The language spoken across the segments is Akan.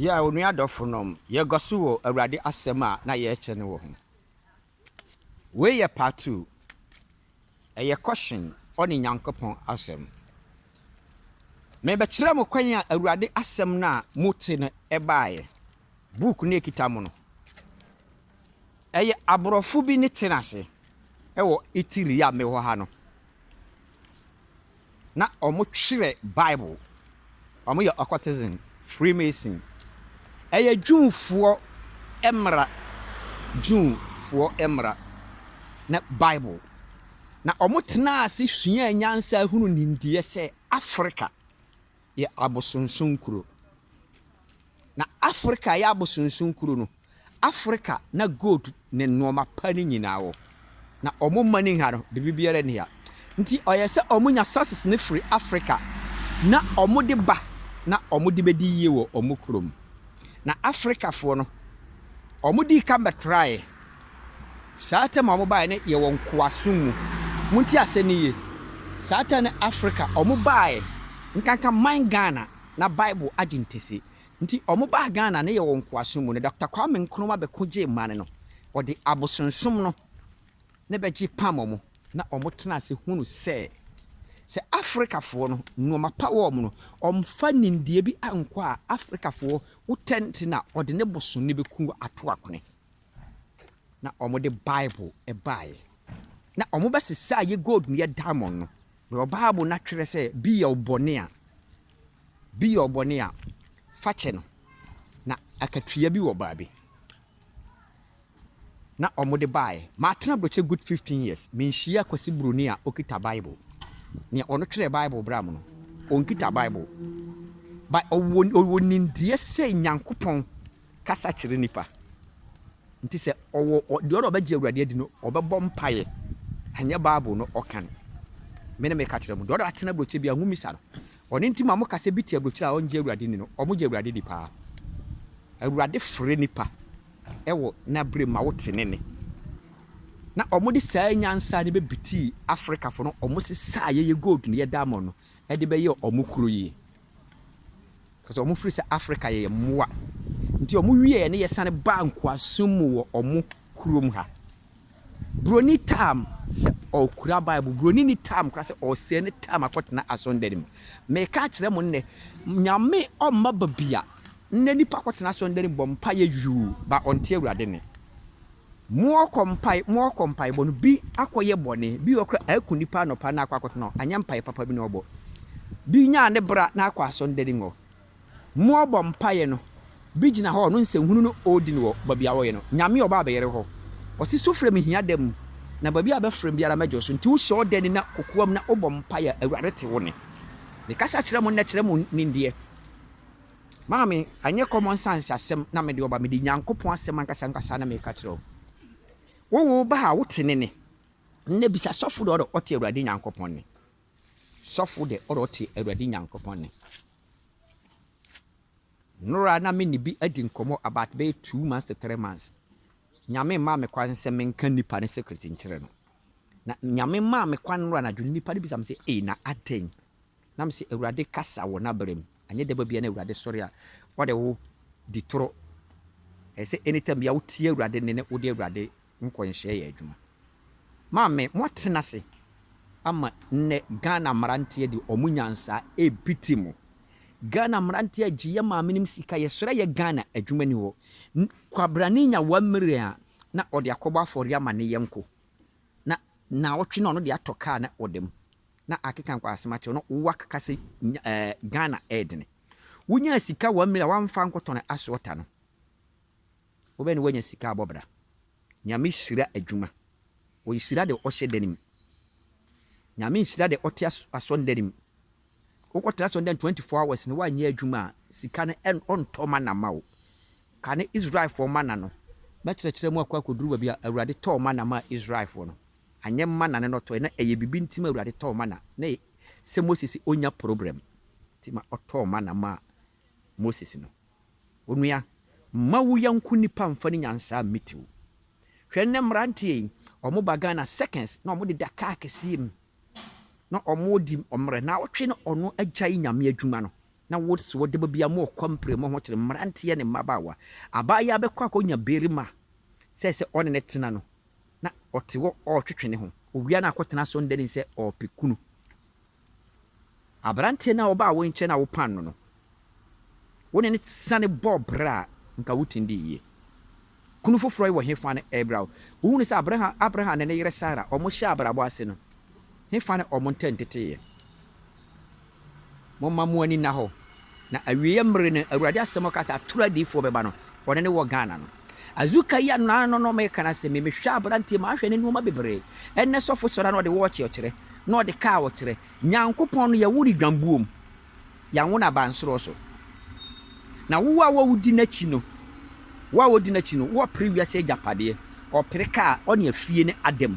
Yɛ a onua adɔfonom, yɛkɔ so wɔ Awurade asɛm a na yɛrekyɛ no wɔ ho. Wei yɛ part two. Ɛyɛ kɔhyen ɔne Nyankopɔn asɛm. Mebɛkyerɛ mo kwan a Awurade asɛm no a mote no ɛbaeɛ. Book no ekita mo no. Ɛyɛ aborɔfo bi ne te ase ɛwɔ Italy a mewɔ ha no. na wɔkyerɛ Bible. Wɔyɛ occultism, freemason. Ɛyɛ Jewfoɔ mmara, Jewfoɔ mmara ne Bible. Na wɔtenaa ase suaa nyansa hunuu nimdeɛ sɛ Afrika. yɛ abosonsom kuro. Na Afrika yɛ abosonsom kuro no, Afrika na gold ne nnoɔma pa no nyinaa wɔ. Na wɔn mining ha no, biribi biara nni ha. Nti ɔyɛ sɛ wɔnya sources no firi Afrika na wɔde ba na wɔde bɛdi yie wɔ wɔn kurom. Na Afrikafoɔ no, wɔdii kan bɛtraeɛ. Saa tɛm a wɔbaeɛ no yɛ wɔ nkoasom mu. Montie asɛm no yie. Saa tɛm no Afrika, wɔbaeɛ nkanka man Ghana na Bible agye ntɛse. Nti wɔbaa Ghana no yɛ wɔ nkoasom mu. Na Dɔkta Kwame Nkrumah bɛko gyee man no. Ɔde abosonsom no na ɛbɛgye pam wɔn na wɔtenaa ase hunu sɛ sɛ Afrikafoɔ no nnoɔma pa wɔ wɔn no, wɔmfa nimdeɛ bi nkɔ a, Afrikafoɔ wotɛnte na ɔde ne bosom no bɛku ato akone. na wɔde Bible baeɛ. Na wɔbɛsesaa yɛ gold ne yɛ diamond no. Because Bible no atwerɛ sɛ, bi yɛ wo bɔne a, bi yɛ wo bɔne a, fa kyɛ no. Na akatua bi wɔ baabi. Na wɔde baeɛ. Matena Aburokyire good 15 years, menhyiaa Kwasi Buroni a ɔkita Bible. Nea ɔno twerɛɛ Bible braa mu no, ɔnkita Bible. But ɔwɔ nimdeɛ sɛ Nyankopɔn kasa kyerɛ nnipa. Nti sɛ ɔwɔ ɔ deɛ ɔwɔ dɛ ɔbɛgye Awurade adi no, ɔbɛbɔ mpaeɛ. Ɛnyɛ Bible no ɔka no. Me na meka kyerɛ mo. Deɛ ɔwɔ dɛ atena aburokyire biara, mommisa no. Ɔno nti ma moka sɛ bi te aburokyire a ɔngye Awurade nni no. Wɔgye Awurade di paa. Awurade frɛ nnipa wɔ N'aberɛ mu ma wote Ne nne. Na wɔde saa nyansa no bɛbitii Afrikafo no, wɔsesaa yɛyɛ gold no, yɛ diamond no, de bɛyɛɛ wɔn kuro yi. Cause wɔn firi sɛ Africa yɛyɛ mmoa nti wɔn wieɛ ne yɛsane baa nkoasom mu wɔ wɔn kurom ha. Broni tam sɛ ɔkura Bible, broni ni tam kora sɛ ɔsɛe ne tam akɔtena asɔndɛre mu. Meka akyerɛ mo nnɛ, nyame ɔmma babia nnɛ nipa akɔtena asɔndɛre mu bɔ mpaeɛ yuu, ba ɔnte Awurade nne. Moɔkɔ mpae moɔkɔ mpaebɔ no bi akɔ yɛ bɔne bi wɔ kora aku nipa anɔpa na akɔ akɔto no anyɛ mpae papa bi na ɔbɔ bi nyaa ne bra na akɔ asɔndani ngɔ moɔbɔ mpaeɛ no bi gyina hɔ ɔno nsɛnhunu no ɔɔdi no wɔ babi a ɔɔyɛ no nyame ɔba abɛyɛre hɔ ɔse sufrɛ me hia da mu na babi a bɛfrɛ me biara mɛgye so nti wohyɛ ɔdani na kokoam na wobɔ mpaeɛ a awurade te wo ne ne kasa kyerɛ mo nnɛ kyerɛ mo nimdeɛ. Maame, ɛnyɛ common sense asɛm na mede ɔba, mede Nyankopɔn asɛm ankasa ankasa na meka kyerɛ wo. Wo wo ba a wote ne ne, nnɛ bisa sɔfo de ɔde ɔte Awurade Nyankopɔn ne. Sɔfo de ɔde ɔte Awurade Nyankopɔn ne. Nora na me ne bi adi nkɔmmɔ about bɛyɛ two months to three months. Nyame maa me kwan sɛ menka nipa ne secret nkyerɛ no. Na nyame maa me kwan nora anadwo nipa no bisa me sɛ, ee na adɛn? Na mese, Awurade kasa wɔ n'abrɛ mu. Anyɛ dɛ babia na Awurade sɔre a, ɔde wo di toro. Ɛyɛ sɛ anytime biaa wo tie Awurade nne na wode Awurade nkɔnhyɛ yɛ adwuma. Maame, mo atena ase ama nnɛ Ghana mmeranteɛ de ɔmo nyansa repiti mo. Ghana mmeranteɛ agye yɛ maame nom sika, yɛsrɛ yɛ Ghana adwuma nni hɔ. Kwabrane nya one million a, na ɔde akɔbɔ afɔreɛ ama ne yɛnko. Na naawɔtwe na ɔno de atɔ car na ɔda mu. na akeka nkwa asem akyerɛ na wak ka sɛ nya eh Ghana ɛɛdene wo nyaa sika one million a wa nfa nkɔ tɔn asoɔta no wo bɛ ne wa nya sika abɔ bra nyame hyira adwuma ɔyi hyira de ɔhyɛ dani mu nyame nhyira de ɔte asɔn dani mu wo kɔ tra asɔn dani 24 hours ne wa nyɛ adwuma a sika no ɛn ɔntɔ ma na ma wo ka ne Israel fɔ ma na no bɛ kyerɛkyerɛ mu akɔ akɔduru baabi a awurade tɔɔ ma na ma Israel fɔ no Anyɛ mana ne na ɔtɔe na ɛyɛ bibi nti ma Awurade tɔɔ mana na ɛyɛ sɛ Mose se ɔnya program nti ma ɔtɔɔ mana maa Moses no. Onua, mma wo yanko nipa mfa ne nyansaa mmiti wo. Hwɛ nnɛ mmeranteɛ yi, ɔmo ba Ghana seconds na ɔmo deda kaa kɛseɛ mu na ɔmo di ɔmmerɛ na ɔtwe na ɔno agyae Nyame adwuma no na wo se ɔde ba bia mo ɔkɔ mpire mo ho kyere mmeranteɛ ne mmabaawa. Abaayaa bɛkɔ akɔ nya barima sɛ sɛ ɔne ne tena no na ɔte hɔ ɔretwetwe ne ho. Owia no akɔtena so nnɛ nim sɛ ɔrepɛ kunu. Aberanteɛ no a ɔbaa wo nkyɛn a wopaan no no, wo ne no sane bɔɔ bra a, anka wotumi dii yie. Kunu foforɔ yi wɔ hefa na ɛrebra wo? Wohunu sɛ Abraham, Abraham ne ne yere Sara, wɔhyɛɛ abrabɔ ase no, hefa na wɔn ntam teteeɛ? Momma mo ani nna hɔ, na awieɛ mmere no, Awurade asɛm a ɔkaa sɛ atoro adiyifoɔ bɛba no, ɔne no wɔ Ghana no. Azuka yi ano ano no meka no asɛm yi, mehwɛ aberanteɛ mu a, ahwɛ ne nnoɔma bebree, ɛnnɛ sɔfo sɔre a na ɔde wɔɔkye ɔkyerɛ, na ɔde kaa ɔkyerɛ. Nyankopɔn no, yɛwo no dwambuo mu, yɛanwo no abansoroɔ so. Na wo a wodi n'akyi no, wo a wodi n'akyi no, wɔpere wiase agyapadeɛ, ɔpere kaa, ɔne afie ne ada mu.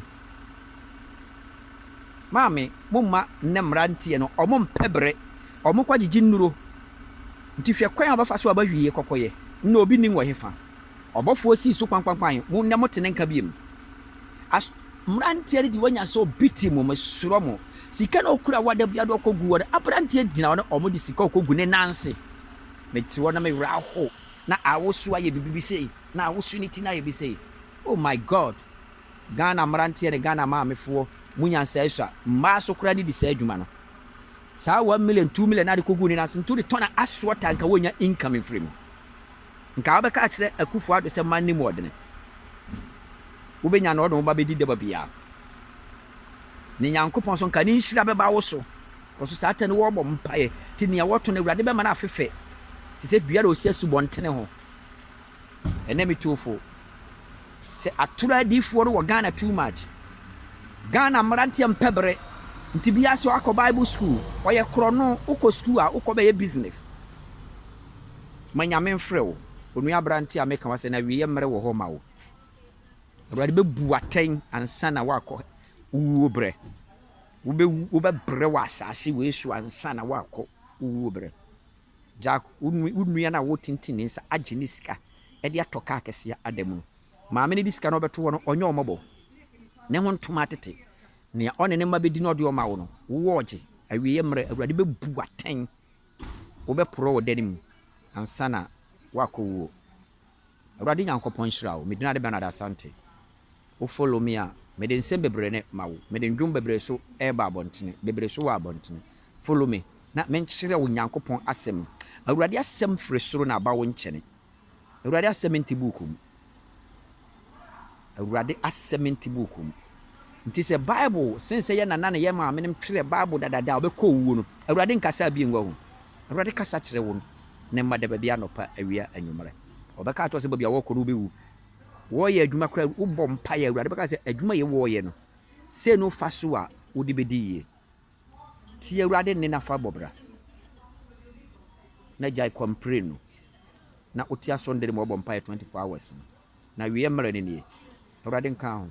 Maame mo mma nnɛ mmeranteɛ no ɔmo mpɛ bere ɔmo kɔ gyegye nnuro nti hwɛ kwan a ɔbɛfa so aba hwie kɔkɔyɛ nnɛ obi nnim wɔ hefa ɔbɔfoɔ sii so kpankpankpan mo nnɛ mote ne nka biem as mmeranteɛ no deɛ wanya sɛ obi te mo mesrɔ mo sika na okura wɔ adabia de ɔkɔ gu wɔ no aberanteɛ gyina hɔ na ɔmo de sika ɔkɔ gu ne nan se mete hɔ na me werɛ ahow na awosu ayɛ bibi bi sei na awosu ne ti no ayɛ bi sei Oh my God! Ghana mmeranteɛ ne Ghana maamefoɔ, mo nyansa asua. Mmaa nso koraa ne di saa adwuma no. Saa one million, two million na de kɔgu ne nan ase nti wode tɔn a assorted a nka wɔnya income mfiri mu. Nka wobɛka akyerɛ Akufo Addo sɛ mma nni mu ɔdene. Wobɛnya na ɔde wo ba bɛdi daba biara. Ne Nyankopɔn nso nka ne nhyira bɛba wo so. Kɔso saa tɛ no wɔbɔ mpaeɛ. Nti nea wɔto no Awurade bɛma no afefɛ te sɛ dua na ɔsi asubɔntene ho. Ɛnɛ me tuo fo sɛ atoro adiifoɔ no wɔ Ghana too much. Ghana mmeranteɛ mpɛ bere nti biara sɛ wakɔ Bible school ɔyɛ korɔno wokɔ school a wokɔ bɛyɛ business. Ma Nyame mfrɛ wo onua aberanteɛ a meka wasɛ no awieɛ mmerɛ wɔ hɔ ma wo. Awurade bɛbu wo atɛn ansa na woakɔ wuo berɛ. Wobɛwu wobɛbrɛ wɔ asaase wei so ansa na woakɔ wuo berɛ. Jack, wo nua no a woretintim ne nsa agye ne sika de atɔ kaa kɛseɛ ada mu no, maame no de sika no ɔbɛto hɔ no, ɔnyɛ wo mmɔbɔ? Ne ho ntom ara tete. Nea ɔne ne mma bɛdi na ɔde wɔn ma wo no, wowɔ ɔgye. Awieeɛ mmerɛ, Awurade bɛbu wo atɛn. Wobɛporɔ wɔ da no mu ansa na woakɔwuo. Awurade Nyankopɔn nhyira wo, Medina de Bernard Asante. Wo follow me a, mede nsɛm bebree ne ma wo. Mede ndwom bebree so ɛɛba abɔntene, bebree so wɔ abɔntene. Follow me na menkyerɛ wo Nyankopɔn asɛm. Awurade asɛm firi soro na aba wo nkyɛne. Awurade asɛm nte buuku mu. Awurade asɛm nte buuku mu. Nti sɛ Bible, sen sɛ yɛ nana ne yɛ maame nom twerɛ Bible dadada a ɔbɛkɔ owuo no, Awurade nkasaa bio ngu ho. Awurade kasa kyerɛ wo ne mma da baabi anɔpa, awia, anwummerɛ. Wɔbɛka akyerɛ wo sɛ baabi a wɔrekɔ no wobɛwu. Wɔreyɛ adwuma koraa no, wobɔ mpaeɛ a, Awurade bɛka sɛ, adwuma yei wɔreyɛ no, sei ne wo fa so a wode bɛdi yie. Tie Awurade nne na fa bɔ bra, na gyae kɔmpire no, na wote aso nde no ma wɔbɔ mpaeɛ 24 hours no, na awieɛ mmerɛ no nie. Awurade nka ho.